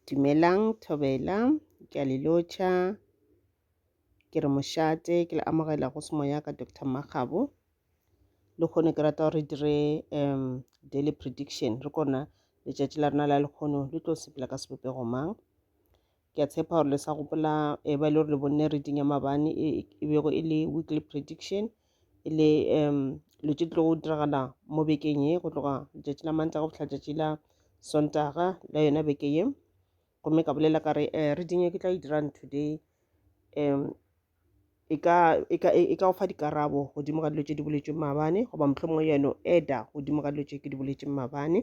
Dumelang Thobela, ke a le lotšha. Ke re mošate, ke le amogela go se moya ka Doctor Makgabo. Le kgone ke rata gore re dire um daily prediction, re kona letšatši la rena la lekgono le tlo sepela ka sebopego mang. ke a tshepa gore le sa gopola e ba e le gore le bonne reading ya mabane e e bego e le weekly prediction e le um lo tše tlo go diragala mo bekeng ye go tloga letšatši la mantla go fihla tšatši la sontaga la yona beke ye gomme ka bolela ka re um reading e ke tla e dirang today um e ka e ka e ka o fa dikarabo godimo ga dilo tše di boletšweng maabane goba mohlomongwe yeno eda godimo ga dilo tše ke di boletšeng maabane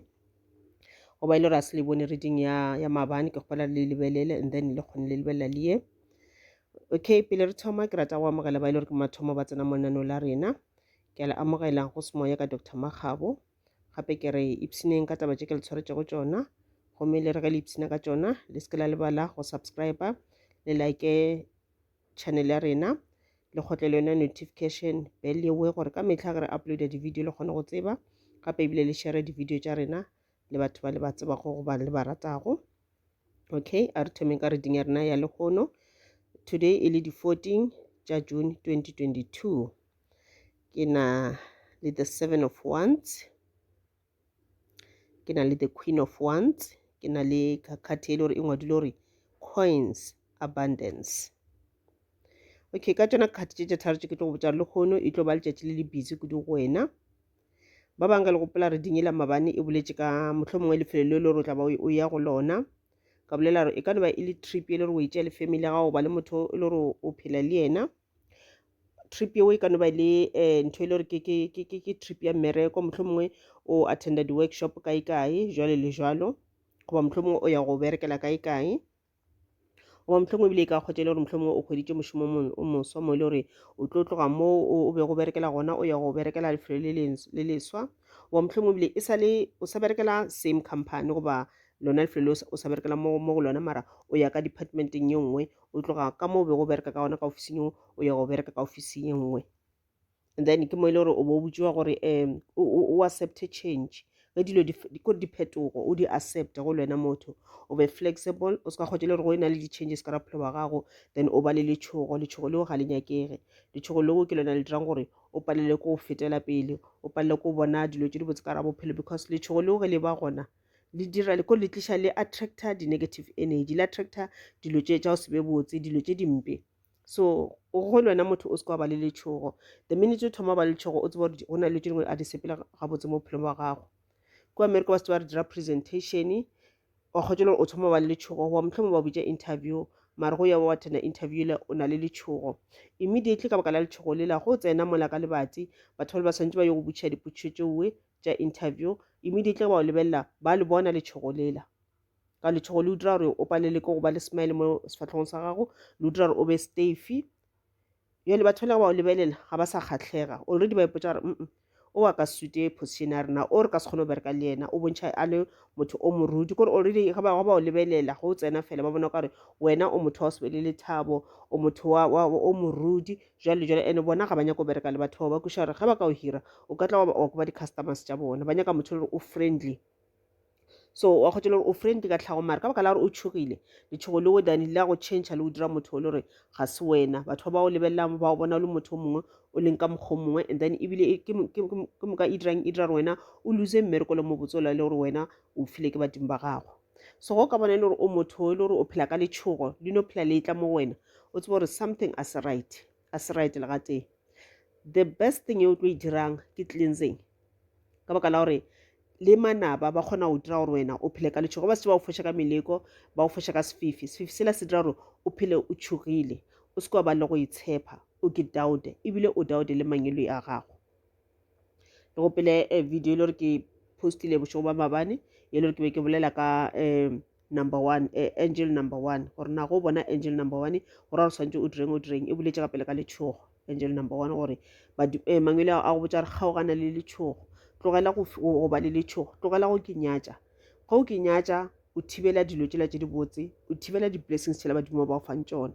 goba e le gore a se le bone reading ya ya maabane ke kgopela le lebelele and then le kgone le lebelela le ye okay pele re thoma ke rata go amogela ba e le gore ke mathomo ba tsena mo lenaneo la rena ke a le amogela go semoya ka dr makgabo gape ke re ipshineng ka taba tše ke le tshwaretšego tsona gomme le re ge le ipshina ka tsona le se ke la lebala go subscriber le like channel ya rena le kgotle le yona notification bell yewe gore ka metlha ge re uploada di-video le kgone go tseba gape ebile le share di-video tša rena le batho ba le ba tsebago goba le ba ratago okay a re thomeng ka reading ya rena ya lekgono today e le di-14 tša june 2022 ke na le the seven of wands ke na le the queen of wands ke na le khathi e le gore e ngwadile gore coins abundance okay ka tsona khathi tše tše tharo tše ke tlo go botsa le kgono e tlo ba letšatši le le busy kudu go wena ba bangwe ka le gopola re dinyela mabane e boletše ka motlho mongwe lefelo le le gore o tla ba o ya go lona ka bolela gore e ka no ba e le trip e le gore o e tšea le family ya gago ba le motho e le gore o phela le yena trip yeo e ka no ba le um ntho e le gore ke trip ya mmereko mohlho mongwe o attenda di-workshop kae kae jwalo le jwalo goba mohlho mongwe o ya go berekela kae kae goba mohlho mongwe ebile e ka kgwetsa e le gore mohlho mongwe o kgweditše mošomo o moswa mo e le gore o tlo tloga mo o be go berekela gona o ya go berekela lefelo le leswa goba mohlho mongwe ebile e sa le o sa berekela same company goba lona lefelo o sa berekela mo go lona mara o ya ka departmenteng ye nngwe o tloga ka mo o bego o bereka ka gona ka ofising eo o ya go bereka ka ofising e nngwe and then ke mo e le gore o bo botšiwa gore um o accepte change ge dilo ko diphetogo o di accepte go le wena motho o be flexible o se ka kgotse le gore go e na le di-changes ka raphelo wa gago then o ba le letshogo letshogo leo ga le nyakege letshogo leo ke lona le dirang gore o palele ko o fetela pele o palele ko bona dilo tse di botse ka ra bophelo because letshogo leo ge le ba gona le dira le ko le tliša le attractor di-negative energy le attractor dilo tše tša go se be botse dilo tše dimpe so go le wena motho o se ka ba le letšhogo the minute o thoma ba le letšhogo o tseba gore go na le tše dingwe a di sepela gabotse mo bophelong ba gago ko america ba se ba re dira presentation wa kgotse gore o thoma ba le letšhogo wa motlhomo ba bitša interview mare go ya wa tena interview le o na le letšhogo immediately ka baka la letšhogo lela go tsena mola ka lebati batho ba le ba tshwanetse ba yo go butšha dipotšišo tšeoe tša interview immediately ba o lebelela ba le bona letšhogo lela ka letšhogo le dira gore o palele ke go ba le smile mo sefahlogong sa gago le dira gore o be stafy bjale batho ba le ba o lebelela ga ba sa kgatlhega already ba ipotsa gore mm o wa ka sute position ya rena o re ka se kgone go bereka le yena o bontšha a le motho o morudi kore already ga ba ba o lebelela go tsena fela ba bona kare wena o motho wa o se be le lethabo o motho o morudi Jwale, jwale, ene bona ga ba nyake go bereka le batho bao, ba kweša gore ge ba ka o hira, o ka tla wa ba- wa koba di-customers tša bona. Ba nyaka motho e le gore o friendly. So, wa kgotša le gore o friendly ka tlhago, mare ka baka la gore o tšhogile, letšhogo leo dane le ya go change le o dira motho o le gore ga se wena. Batho ba ba o lebelelang ba o bona o le motho o mongwe, o leng ka mokgwa o mongwe, and then ebile e- ke mo- ke- ke mo- ke moka e dirang e dira gore wena o lose mmereko le mobotse o la le gore wena o file ke badimo ba gago. so go ka bona e le gore o motho e le gore o phela ka letšhogo le no phela le etla mo go wena o tseba gore something a se right a se right le gatee the best thing e o tlo e dirang ke cleansing ka baka la gore le manaba ba kgona go dira gore wena o phele ka letšhogo ba se ba go foša ka meleko ba go foša ka sefifi sefifi sela se dira gore o phele o tšhogile o se ke wa ba le go itshepha o ke daude ebile o daude le mangelo a gago le go pele eh, video e le gore ke postile bošego ba mabane e le gore ke be ke bolela ka um number one eh, angel number one gore na go bona angel number one gore gore tshwanetse o direng o direng e boletse ka pele ka letshogo angel number one gore eh, mangwele a go botsa gore kgaogana le letshogo tlogela go ba le letshogo tlogela go ke nyatša ga o ke nyatša o thibela dilo tsela tse di botse o thibela di-blessings tshela badimo ba o fang tsona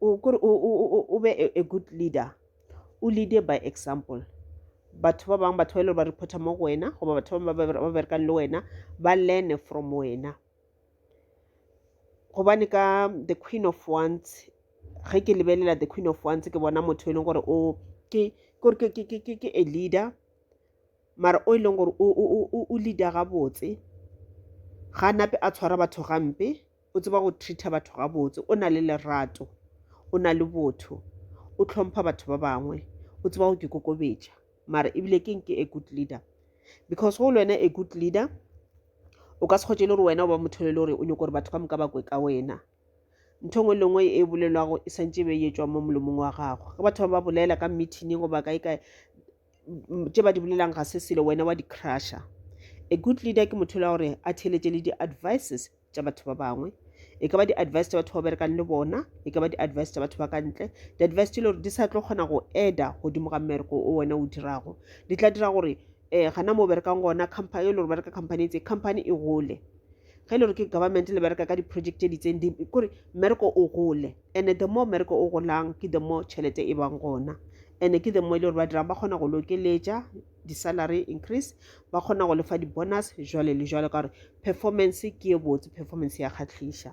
o kore o be a good leader o leade by example batho ba bangwe batho ba e le gore ba reporta mo go wena goba batho ba bangwe ba berekang le wena ba learne from wena gobane ka the queen of ones ge ke lebelela the queen of ones ke bona motho e leng gore o ke kore ke ke ke ke a leader mara o e leng gore o leader gabotse ga nape a tshwara batho gampe O tseba go treater batho gabotse, o na le lerato, o na le botho, o tlhompha batho ba bangwe, o tseba go ke kokobetša. Mara ebile keng ke a good leader? Because go le wena a good leader, o ka se kgotše le gore wena o ba motho le le gore o nyoko gore batho ka moka ba kwe ka wena. Ntho engwe le ngwe e bolelwago e santše e be e etšwa mo molomong wa gago. Ge batho ba ba bolela ka meeting goba kae kae, tše ba di bolelang ga se selo wena wa di crusher a good leader ke motho la gore a theeletše le di-advices tša batho ba bangwe e ka ba di-advice tša batho ba berekang le bona e ka ba di-advice tša batho ba ka ntle di-advice tše le gore di sa tlo kgona go eda godimo ga mmereko o wena o dirago di tla dira gore um gana mo berekang gona company e le gore bereka company tse company e gole ge e le gore ke government le bereka ka di-project tse di itseng kore mmereko o gole Ene the more mmereko o golang ke the more tšhelete e bang gona. Ene ke the more e le gore ba dirang ba kgona go le okeletša di-salary increase, ba kgona go lefa di-bonus jwale le jwalo ka gore performance ke e botse, performance ya kgahliša.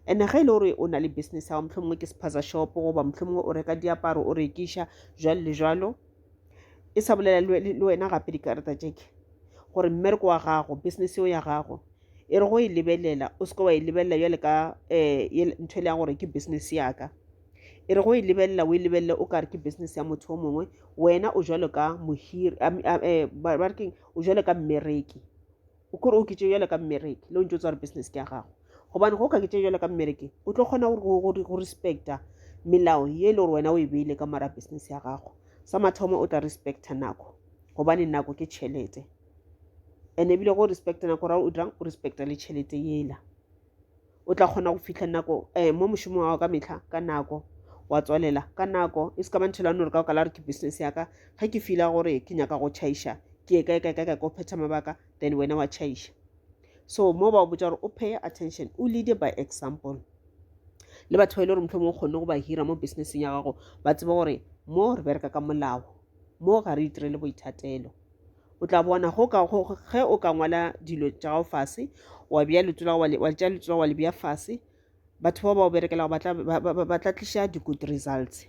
Ene ge e le gore o na le business ya gago, mohlomongwe ke sephaza shop goba mohlomongwe o reka diaparo o rekiša jwalo le jwalo, e sa bolela le wena gape dikarata tšeke gore mmereko wa gago business yeo ya gago e re go e lebelela o seke wa e lebelela bjale ka um ntho e le ya gore ke business yaka e re go e lebelela o e lebelele o kare ke business ya motho o mongwe wena o jalo ka mohiri um ba re keng o jalo ka mmereki O kore o oketše bjale ka mmereke le o ntse o tswa re business ke ya gago gobane go okaketše bjale ka mmerekeng o tlo kgona go respecta melao ye e le gore wena o e beile ka mara business ya gago sa mathomo o tla respecta nako gobane nako ke tšhelete and ebile go respecta nako ra o dirang o respecta le tšhelete yela o tla kgona go fihla nako um mo mošomong wa gago ka metlha ka nako wa tswalela ka nako e se ka manthelano re ka baka la gore ke business ya ka ge ke fila gore ke nyaka go chaiša ke ye kae kae kae kae ko phetha mabaka then wena wa chaiša so mo ba botsa gore o pay attention o leade by example le batho ba e le gore motlho mo kgonne go ba hira mo businesseng ya gago ba tseba gore mo re bereka ka molao mo ga re itirele boithatelo o tla bona go ka go ge o ka ngwala dilo tša gago fase wa bea leto la wa tša leto la wa le bea fase batho bao ba o berekelago ba tla tliša di-good results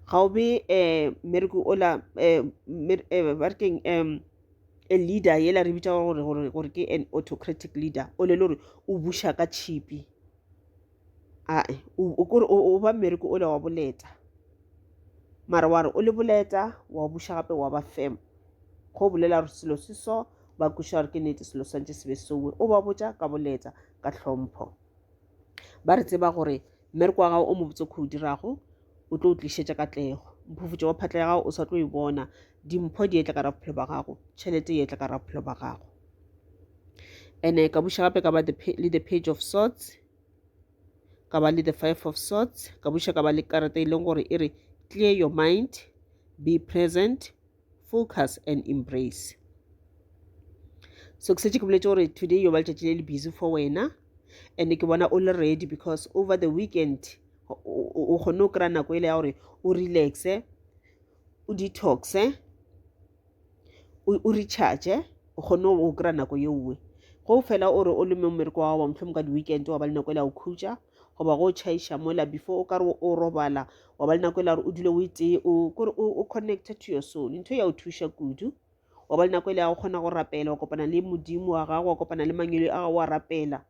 ga o be um mmereko ola um um ba re keng um a leader yela re bitša gore gore gore ke an autocratic leader o le le gore o buša ka tšhipi ae o kore o ba mmereko o le wa boleta mara wa re o le boleta wa o buša gape wa ba femo go bolela gore selo se so ba kweša gore ke nete selo swantse se be sowe o ba botša ka boleta ka tlhompho ba re tseba gore mmereko wa gago o mobotse kho o dirago o tlo o tlišetša katlego mphufutšo wa phatla ya gago o sa tlo e bona dimpho di etla ka ra bophelo ba gago tšhelete e etla ka ra bophelo ba gago ene ka buša gape ka ba le the page of sorts ka ba le the five of sorts ka buša ka ba le karata e leng gore e re clear your mind be present focus and embrace so ke setse ke boletse gore today yo ba letšatši le le busy for wena and ke bona o le ready because over the weekend o kgonne o kry-a nako e le ya gore o relaxe o detoxe o recharge o kgonne o kry-a nako ye nngwe go fela o re o le mo mmereko wa wa motlho mo ka di-weekend wa ba le nako e le ya go khutša goba go tšhaiša mola before o ka re o robala wa ba le nako e la gore o dule o itee kore o connected to your soul ntho ya o thuša kudu wa ba le nako e le ya go kgona go rapela wa kopana le modimo wa gago wa kopana le mangelo a gago wa rapela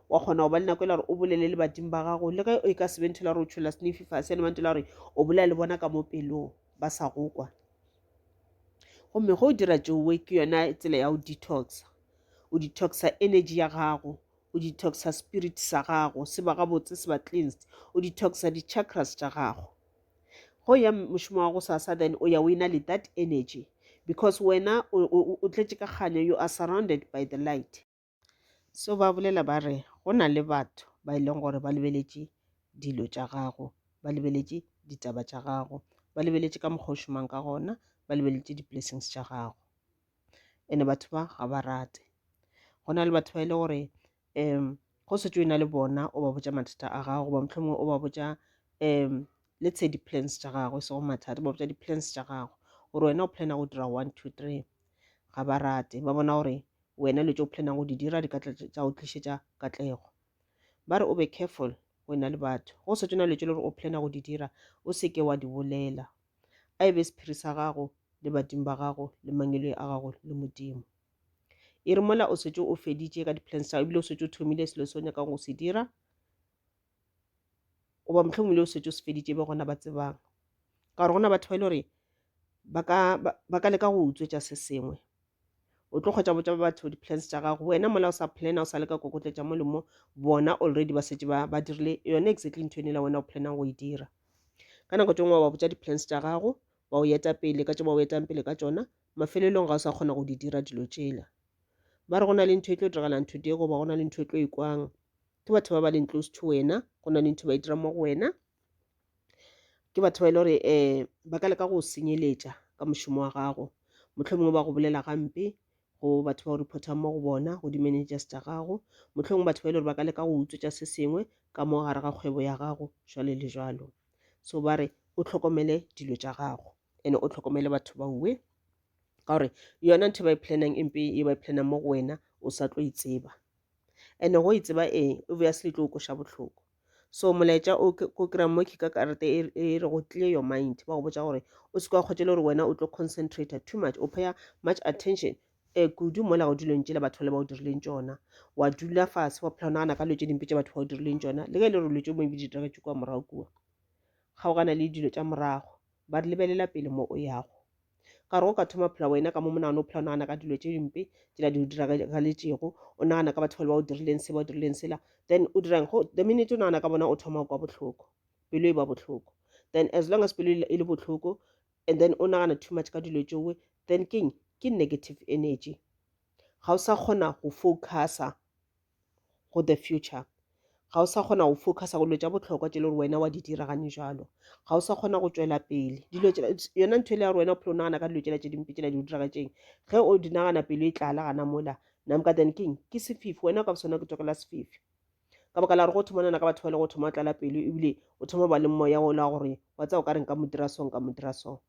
wa kgona go ba le nako e la gore o bolele le badimo ba gago le ge e ka sebe ntho la gore o tshola snefi fa sene ba ntho la gore o bolela le bona ka mo pelong ba sa go kwa gomme go o dira tšowe ke yona tsela ya go detoxa o detoxa energy ya gago o detoxa spirit sa gago se ba gabotse se ba cleansed o detoxa di chakras tša gago go ya mošomo wa go sasa then o ya o ena le that energy because wena o tletše ka kganyo you are surrounded by the light so ba bolela ba re go na le batho ba e leng gore ba lebeletše dilo tša gago ba lebeletše ditaba tša gago ba lebeletše ka mokgwa o šomang ka gona ba lebeletše di-blessings tša gago ene batho ba ga ba rate go na le batho ba e le gore um go setse o na le bona o ba botša mathata a gago goba mohlomongwe o ba botša um le tshe di-plans tša gago e sego mathata ba botša di-plans tša gago gore wena o plana go dira one two three ga ba rate ba bona gore wena le tse o planang go di dira di ka tla tša go tlišetša katlego ba re o be careful wena le batho go setse o na le tse le gore o plana go di dira o seke wa di bolela a e be sephiri sa gago le badimo ba gago le mangeloi a gago le modimo e re mola o setse o feditše ka di-plans tsa ebile o setse o thomile selo se o nyakang go se dira goba mohlomong le o setse o se feditše be gona ba tsebang ka gore gona batho ba e le gore ba ka leka go utswetša se sengwe o tlo kgwetsa botsa ba batho di-plans tša gago wena mola o sa plana o sa leka kokotletša mo le mo bona already ba setse ba dirile yone exactly ntho ene la wena o planang go e dira ka nako tse ngwe wa botsa di-plans tša gago wa o eta pele ka tse ba o etang pele ka tsona mafelelong ga o sa kgona go di dira dilo tšela ba re go na le ntho e tlo diragalang ntho diego ba go na le ntho e tlo e kwang ke batho ba ba leng close to wena go na le ntho ba e dira mo go wena ke batho ba e le gore um ba ka leka go senyeletša ka mošomo wa gago mohlomongwe ba go bolela gampe go batho ba o reportang mo go bona go di-managers tša gago mohlomongwe batho ba e le gore ba ka leka go utswetša se sengwe ka mo gare ga kgwebo ya gago jwale le jwalo so ba re o tlhokomele dilo tša gago and o tlhokomele batho ba uwe ka gore yona ntho e ba e planang empe e ba e planang mo go wena o sa tlo e tseba and go e tseba eng obviously e tlo o koša bohloko so molaetša o ko kry-a mo ke ka karete e, e re go clear your mind ba go botsa gore o se kwa kgotšele gore wena o tlo concentrate too much o paya much attention um kudu mola go dilong tšela batho le ba o dirileng tšona wa dula fase wa phela o nagana ka dilo tše dimpe tša batho ba o dirileng tšona le ge e le gore dilo tše moebi di diregetše kua morago kua kgaogana le dilo tša morago ba re lebelela pele mo o yago Ka re o ka thoma phela wena ka mo monagano o phela o nagana ka dilo tše dimpe tsela di o diragaletšego o nagana ka batho ba le ba o dirileng se ba o dirileng sela then o dirang go the minute o nagana ka bona o thoma kwa bohloko pelo e ba bohloko then as long as pelo e le bohloko and then o nagana too much ka dilo tšowe then king ke negative energy ga o sa kgona go focusa go the future ga o sa kgona go focusa go dilo tša bohlokwa tše le gore wena wa di dira gane jalo ga o sa kgona go tšwela pele dilo yona ntho e le ya gore wena o phela o nagana ka dilo tšela tše dimpe tšela di o diragatšeng ge o di nagana pelo e tlala gana mola namka then king ke sefifi wena ka sona ke tsokela sefifi ka baka la gore go thoma nana ka batho ba le go thoma tlala pelo ebile o thoma ba le moya o la gore wa tsa o ka reng ka modira song ka modira song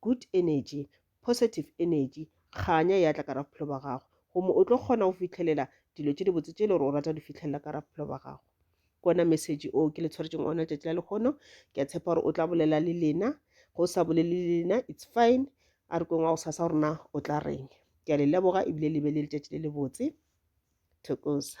good energy, positive energy, kganya ya tla ka ra bophelo ba gago gomme o tlo kgona go fitlhelela dilo tše dibotse tše e le gore o rata di fitlhelela ka ra bophelo ba gago ke ona message o ke le tshwaretseng ona tšatši la lekgono ke a tshepa gore o tla bolela le lena go sa bolele le lena it's fine a re kweng wa go sasa gorena o tla reng ke a le leboga ebile le be le letšatši le lebotse thokoza